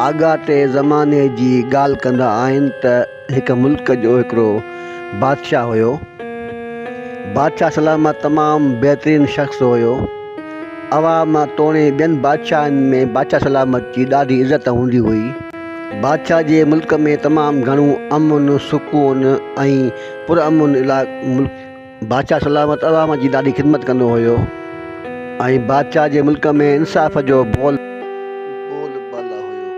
آڳاٽي زماني جي ڳالهه ڪندا آهن ته هڪ ملڪ جو هڪڙو بادشاهه هيو. بادشاهه سلامت تمام بهترين شخص هيو. عوام توڻي ٻين بادشاهن ۾ بادشاهه سلامت جي ڏاڍي عزت هوندي هئي. بادشاهه جي ملڪ ۾ تمام گهڻو امن، سڪون ۽ پرامن ملڪ هيو. بادشاهه سلامت عوام جي ڏاڍي خدمت ڪندو هيو ۽ بادشاهه جي ملڪ ۾ انصاف جو بول بالا هيو.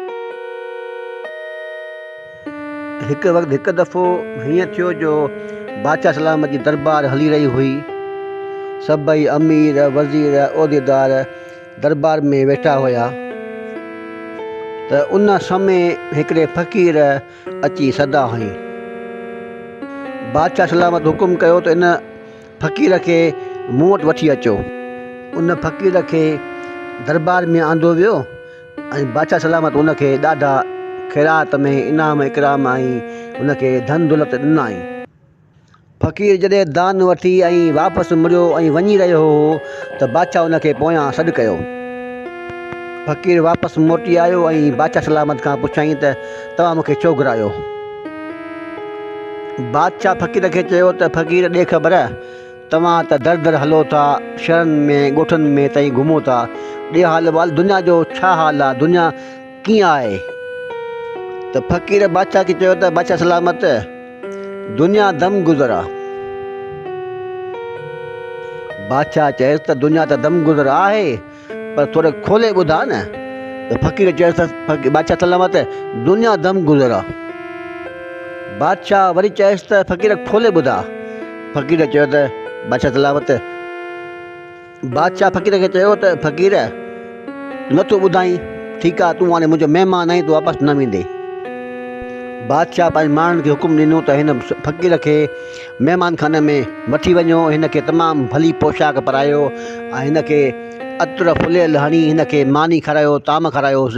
هڪ وقت هڪ دفعو هيئن ٿيو جو بادشاهه سلامت جي دربار هلي رهي هئي. سڀئي امير، وزير، عهديدار دربار ۾ ويٺا هيا ته ان سمي هڪڙي فقير، اچي سدا هنئين. بادشاهه سلامت حڪم ڪيو ته ان فقير کي مون وٽ وٺي اچو. ان فقير کي دربار ۾ آندو ويو ۽ بادشاهه سلامت ان کي ڏاڍا خيرات ۾ انعام اڪرام ۽ ان کي ڌن دولت ڏنائين. فقير جڏهن دان وٺي ۽ واپس مڙيو ۽ وڃي رهيو هو ته بادشاهه ان کي پويان سڏ ڪيو. فقير واپس موٽي آيو ۽ بادشاهه سلامت کان پڇيائين ته توهان مونکي ڇو گهرايو؟ بادشاهه فقير کي چيو ته فقير ڏي خبر توهان ته در در هلو ٿا، شهرن ۾ ڳوٺن ۾ تائين گهمو ٿا، ڏي حال وال دنيا جو ڇا حال آهي؟ دنيا ڪيئن آهي؟ ته فقير بادشاهه کي چيو ته بادشاهه سلامت دنيا دم گذر آ. بادشاهه چيس ته دنيا ته دم گذر آهي پر ٿوري کولي ٻڌاء نه. ته فقير چيس ته بادشاهه سلامت دنيا دم گذر آ. بادشاهه وري چيس ته فقير کولي ٻڌاء. فقير چيو ته بادشاهه سلامت. بادشاهه فقير کي چيو ته فقير! نه ٿو ٻڌائين؟ ٺيڪ آهي، تون هاڻي منهنجو مهمان آهين، تون واپس نه ويندين. بادشاهه پنهنجي ماڻهن کي حڪم ڏنو ته هن فقير کي مهمانخاني ۾ وٺي وڃو، هن کي تمام ڀلي پوشاڪ پرايو ۽ هن کي عطر فليل هڻي هن کي ماني کارايو، طعام کارايوس.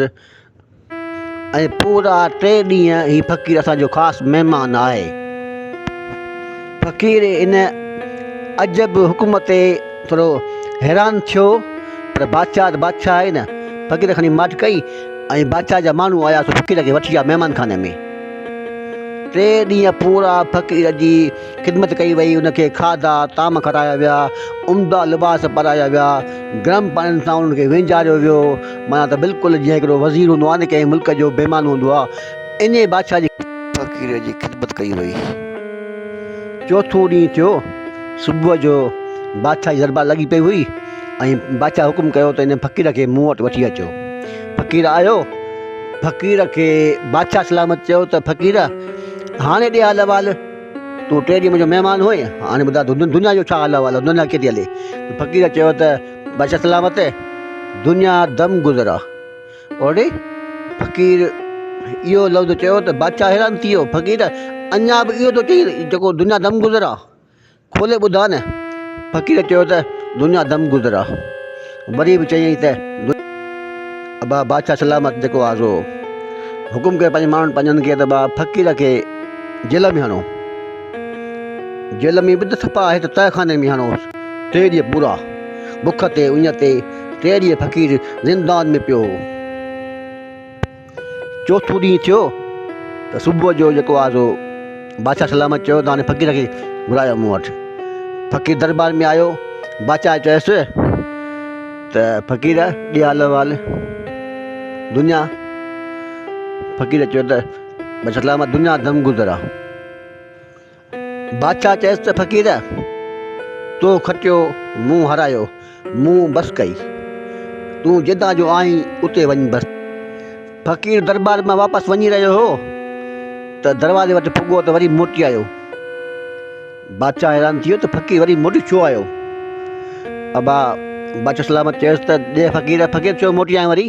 ۽ پورا ٽي ڏينهن هي فقير اسان جو خاص مهمان آهي. فقير ان عجب حڪم تي ٿورو حيران ٿيو پر بادشاهه ته بادشاهه آهي نه فقير کڻي ماٺ ڪئي ۽ بادشاهه جا ماڻهو آيا سو فقير کي وٺي آيا مهمان خاني ۾ ٽي ڏينهن پورا فقير جي خدمت ڪئي وئي ان کي کاڌا طعام کارايا ويا عمدا لباس پارايا ويا گرم پاڻين سان ان کي وينجاريو ويو معنيٰ ته بلڪل جيئن هڪڙو وزير هوندو آهي ته ڪنهن ملڪ جو بيمان هوندو آهي انهيء بادشاهه جي فقير جي خدمت ڪئي وئي. چوٿون ڏينهن ٿيو. صبح جو بادشاهه جي دربار لڳي پئي هئي ۽ بادشاهه حڪم ڪيو ته انهيء فقير کي مون وٽ وٺي اچو. فقير آيو. فقير کي بادشاهه سلامت چيو ته فقير هاڻي ڏي حال احوال تون ٽي ڏينهن منهنجو مهمان هئين هاڻي ٻڌاء ته دنيا جو ڇا حال احوال آهي دنيا ڪيٿي هلي؟ فقير چيو ته. بچا سلامت دنيا دم گذرا اوڙي فقير اهو لفظ چيو ته بادشاهه حيران ٿي ويو فقير اڃا به اهو ٿو چئي جيڪو دنيا دم گذرا کولي ٻڌاء نه فقير چيو ته دنيا دم گذرا وري به چيائين ته ابا بادشاهه سلامت جيڪو آزو حڪم ڪيو پنهنجي ماڻهن پنهنجن کي ته با فقير کي جيل ۾ هڻو جيل ۾ به ته سپا آهي ته تهخاني ۾ هڻوس ٽي ڏينهن پورا بک تي اڃ تي ٽي ڏينهن فقير زندان ۾ پيو هو. چوٿون ڏينهن ٿيو ته صبح جو جيڪو آز هو بادشاهه سلامت چيو ته هاڻي فقير کي گهرايو مون وٽ فقير دربار ۾ آيو بادشاهه چيس ته فقير ڏي حال احوال دنيا فقير چيو ته بادشاهه سلامت دنيا دم گذر آ بادشاهه چيس ته فقير! تو کٽيو، مون هارايو، مون بس ڪئي. تون جتان جو آهين اتي وڃ بس. فقير درٻار مان واپس وڃي رهيو هو ته دروازي وٽ پڳو ته وري موٽي آيو. بادشاهه حيران ٿي ويو ته فقير وري موٽي ڇو آيو. ابا بادشاهه سلامت چيس ته ڏي فقير، فقير ڇو موٽي آيو وري؟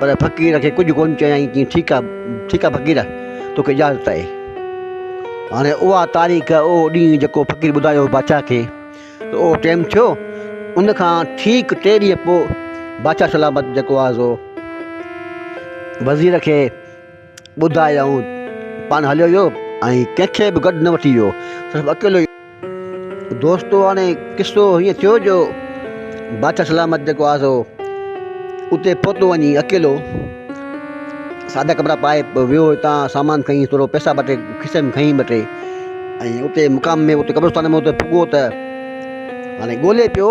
پر فقير کي ڪجهه ڪونه چيائين چيائين ٺيڪ آ ٺيڪ آ فقير توکي اجازت آهي هاڻي اها تاريخ اهو ڏينهن جيڪو فقير ٻڌايو بادشاهه کي ته اهو ٽيم ٿيو ان کان ٺيڪ ٽي ڏينهن پوء بادشاهه سلامت جيڪو آهي سو وزير کي ٻڌايائون، پاڻ هليو ويو ۽ ڪنهن کي به گڏ نه وٺي ويو، صرف اڪيلو ئي. دوستو هاڻي قصو هيئن ٿيو جو بادشاهه سلامت جيڪو آزو اتي پهتو وڃي اڪيلو سادا ڪپڙا پائي ويو هتان سامان کڻي ٿورو پئسا ٻه ٽي کيسي ۾ کڻي ٻه ٽي ۽ اتي مقام ۾ اتي قبرستان ۾ اتي پڳو ته هاڻي ڳولي پيو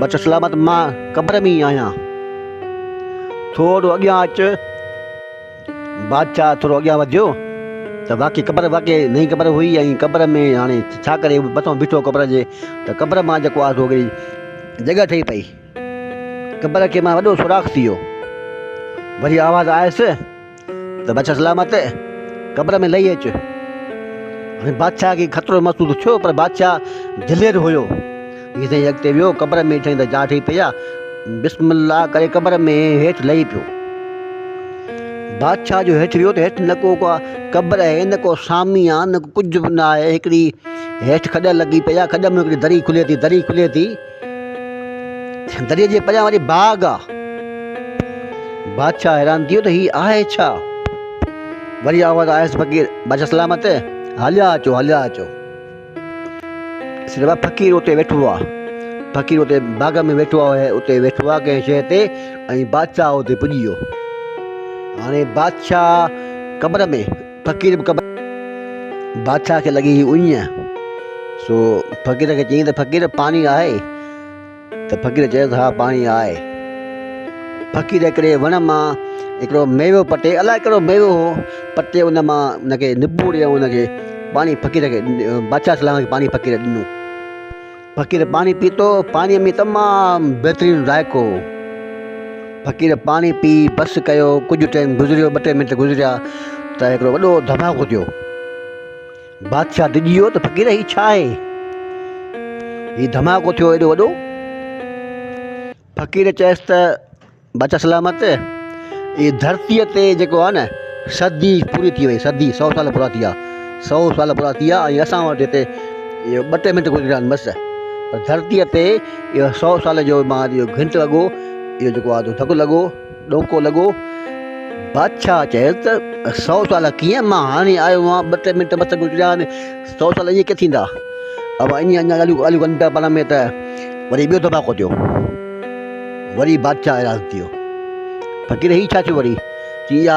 بچ سلامت مان قبر ۾ ئي آهيان. ٿورو اڳيان اچ. بادشاهه ٿورو اڳيان وڌيو ته واقعي قبر واقعي نئين قبر هئي ۽ قبر ۾ هاڻي ڇا ڪري مٿو بيٺو قبر جي ته قبر مان جيڪو آهي سو هڪڙي جڳهه ٺهي پئي. قبر کي مان وڏو سوراخ ٿي ويو. وري آواز آيس. ته بادشاهه سلامت قبر ۾ لهي اچ. هاڻي بادشاهه کي خطرو محسوس ٿيو پر بادشاهه دلير هيو. هيء سائين اڳتي ويو قبر ۾ ڏٺائين ته جاڙ ٺهي پئي آهي. بسم الله ڪري قبر ۾ هيٺ لهي پيو. بادشاهه جو هيٺ ويو ته هيٺ نه ڪو قبر آهي نه ڪو سامي آهي نه ڪجهه به نه آهي هڪڙي هيٺ کڏ لڳي پئي آهي کڏ ۾ هڪڙي دري کلي ٿي دري کلي ٿي. دريء جي پريان وري باغ آ. بادشاهه حيران ٿي ويو ته هي آهي ڇا؟ وري آواز آيس فقير بادشاهه سلامت هليا اچو هليا اچو. سيٺ فقير اتي ويٺو آ. فقير اتي باغ ۾ ويٺو آ اتي ويٺو آ ڪنهن شيء تي ۽ بادشاهه اتي پڄي ويو. هاڻي بادشاهه قبر ۾ فقير به قبر بادشاهه کي لڳي هئي اڃ سو فقير کي چيائين ته فقير پاڻي آهي ته فقير چيو ته ها پاڻي آهي فقير هڪڙي وڻ مان هڪڙو ميوو پٽي الاء ڪهڙو ميوو هو پٽي ان مان ان کي نپوڙي ۽ ان کي پاڻي فقير کي بادشاهه سلام کي پاڻي فقير ڏنو فقير پاڻي پيتو پاڻيء ۾ تمام بهترين ذائقو هو. فقير پاڻي پي بس ڪيو ڪجهه ٽيم گذريو ٻه ٽي منٽ گذريا ته هڪڙو وڏو ڌماڪو ٿيو. بادشاهه ڊڄي ويو ته فقير هي ڇا آهي؟ هي ڌماڪو ٿيو ايڏو وڏو. فقير چيس ته بادشاهه سلامت هي ڌرتي تي جيڪو آهي نه صدي پوري ٿي وئي صدي سؤ سال پورا ٿي ويا سؤ سال پورا ٿي ويا ۽ اسان وٽ هتي اهو ٻ ٽي منٽ گذريا آهن بس ڌرتي تي اهو سؤ سال جو ماضي جو گهنٽ لڳو اهو جيڪو آهي ڌڪ لڳو ڏوڪو لڳو. بادشاهه چيس ته سؤ سال ڪيئن؟ مان هاڻي آيو آهيان، ٻه ٽي منٽ بس گذريا آهن، سؤ سال ائين ڪيئن ٿيندا؟ اوهان اڃا اڃا ڳالهيون ڳالهيون ڪن پيا پاڻ ۾ ته وري ٻيو ڌماڪو ٿيو. وري بادشاهه حيران ٿي ويو. فقير هي ڇا ٿيو وري؟ چي اها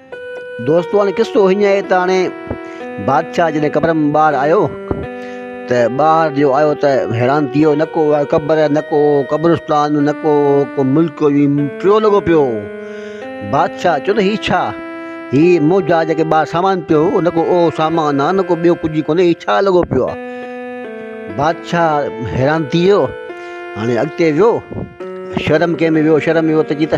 دوستو هاڻي قصو هيئن آهي ته هاڻي بادشاهه جڏهن قبر ۾ ٻاهر آيو ته ٻاهر جو آيو ته حيران ٿي ويو نڪو آيو قبر نڪو قبرستان نڪو ڪو ملڪ وي ٽيو لڳو پيو بادشاهه چيو ته هي ڇا هي مون جا جيڪي ٻاهر سامان پيو هو نڪو اهو سامان آ نڪو ٻيو ڪجهه ئي ڪونهي هي ڇا لڳو پيو آ بادشاهه حيران ٿي ويو هاڻي اڳتي ويو شرم ڪنهن ۾ ويو شرم ويو ته جي ته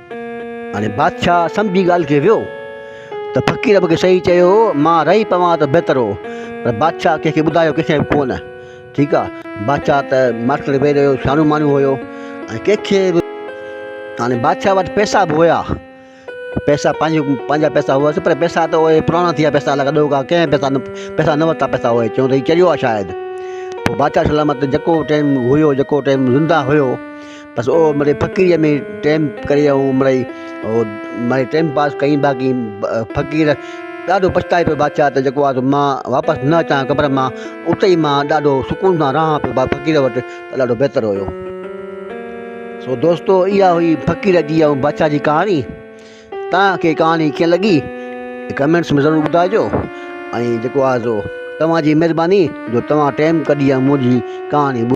هاڻي بادشاهه سمجهي ڳالهه کي ويو ته فقير مونکي صحيح چيو هو مان رهي پوان ته بهتر هو پر بادشاهه ڪنهن کي ٻڌايو ڪنهن کي به ڪونه ٺيڪ آ بادشاهه ته ماٺڪڙ ويهي رهيو سياڻو ماڻهو هيو ۽ ڪنهن کي به هاڻي بادشاهه وٽ پئسا به هيا پئسا پنهنجو پنهنجا پئسا هئس پر پئسا ته اهي پراڻا ٿي ويا پئسا لڳا ڏوهه کان ڪنهن پئسا نه پئسا نه ورتا پئسا اهي چون ته هي چريو آ شايد پوء بادشاهه سلامت جيڪو ٽيم هيو جيڪو ٽيم زنده هيو بس او مڙئي فقيريء ۾ ٽيم ڪري ائون مڙئي او مئي ٽيم پاس ڪئين باقي فقير ڏاڍو پڇتائي پيو بادشاهه ته جيڪو آهي مان واپس نه اچان قبر مان اتي ئي مان ڏاڍو سڪون سان رهان پيو فقير وٽ ته ڏاڍو بهتر هيو سو دوستو اها هئي فقير جي ۽ بادشاهه جي ڪهاڻي توهان کي ڪهاڻي ڪيئن لڳي ڪمينٽس ۾ ضرور ٻڌائجو ۽ جيڪو آهي سو توهان جي مهرباني جو توهان ٽيم ڪڍي منهنجي ڪهاڻي ٻڌو.